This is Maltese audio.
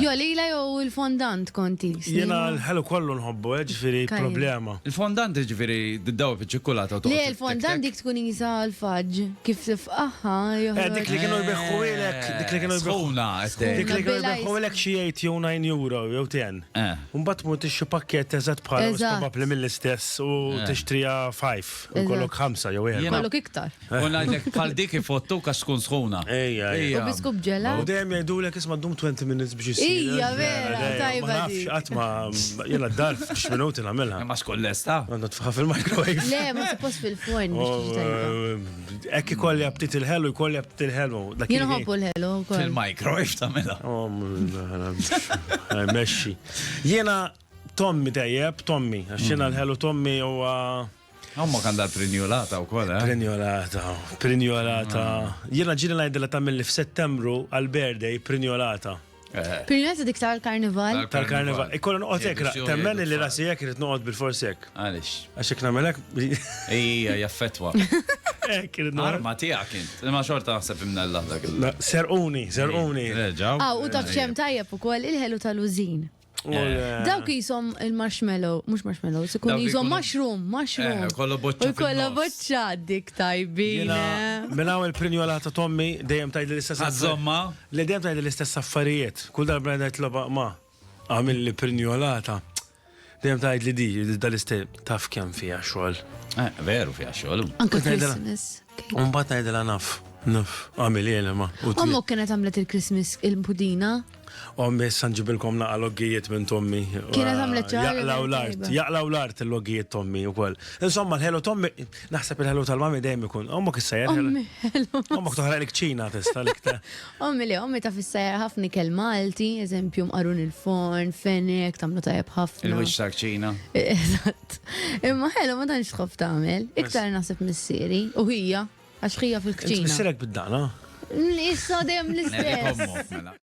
Jo lila jo il-fondant kont is. Jiena l-ħelu kollu nħobbu eh ġifieri problema. Il-fondant jiġifieri tdawwar fiċ-ċikkulata u toqgħod. Le l-fondant dik tkun qisha l-fudge kif tifqagħha joħroġ. Eh dik li kienu jbiħħuhielek dik li kienu jbiħħu. Sħuna qed tgħid. Dik li kienu jbiħħuhielek xi eight jew nine euro jew ten. U mbagħad tmur tixtri pakkett eżatt bħalha u probabbli mill-istess u tixtriha five u jkollok ħamsa jew erba'. Jkollok iktar. U ngħidlek bħal dik ifottuk għax tkun sħuna. Ejja, ejja. U biskup ġela. U dejjem jgħidulek isma' ddum 20 minutes biex isir. Ija, vera, tajba. Ma nafx qatt ma jiena d-dar f'x minuti nagħmilha. Ma xkun lesta. Għandha tfaħħa fil-microwave. Le, ma suppost fil-forn biex Hekk ikolli aptit il-ħelu, jkolli aptit il-ħelu. Jien ħobbu l-ħelu wkoll. Fil-microwave tagħmilha. Mexxi. Jiena Tommy tajjeb, Tommy, għax jiena l-ħelu Tommy huwa Ommok għandha trinjolata wkoll, eh? Prinjolata, prinjolata. Jiena ġieli ngħidilha tagħmilli f'Settembru għall-birthday prinjolata. Prinjolata dik tal-karnival. Tal-karnival. Ikolla noqgħod hekk, temmen li rasi hekk irid noqgħod bil-forsi hekk. Għaliex? Għax hekk nagħmel hekk. Ejja, jaffettwa. Hekk irid noqgħod. Arma tiegħek int. Imma xorta naħseb imnella dak il. Serquni, serquni. Reġgħu. Ah, u taf xemm tajjeb ukoll il-ħelu tal-użin. Dawk jisom il-marshmallow, mux marshmallow, sikun jisom mushroom, mushroom. Eh, kollu boċċa. Kollu boċċa dik tajbin. Eh. Minna għu il-prinjola ta' tommi dejjem tajd l-istess Għazzomma. Li dejjem tajd l-istess affarijiet. Kull darba għedha jitloba ma' għamil li prinjolata. Dejjem tajd li di, dal-istess taf kem fija xol. Eh, veru fija xol. Anka Christmas. Un bat tajd l-anaf. Nuf, għamil jena ma. Ommu kienet għamlet il-Christmas il-pudina. Ommi, san ġibilkom naqa loggijiet minn tommi. Kienet għamlet ċaħġa. Jaqlaw l-art, jaqlaw l-art il-loggijiet tommi u koll. Insomma, l-ħelu tommi, naħseb il-ħelu tal-mami dejjem ikun. Ommu kissajer. Ommi, ħelu. Ommu ktuħra l-kċina testa l-ikta. Ommi li, ommi ta' fissajer ħafni kell Malti, eżempju mqarun il-forn, fenek, tamlu tajab ħafna. Il-wix ta' kċina. Eżatt. Imma ħelu ma tanx tħof tagħmel. Iktar naħseb missieri u hija. Għax ħija fil-kċina. Int missierek bid-daqna? Issa dejjem l-istess.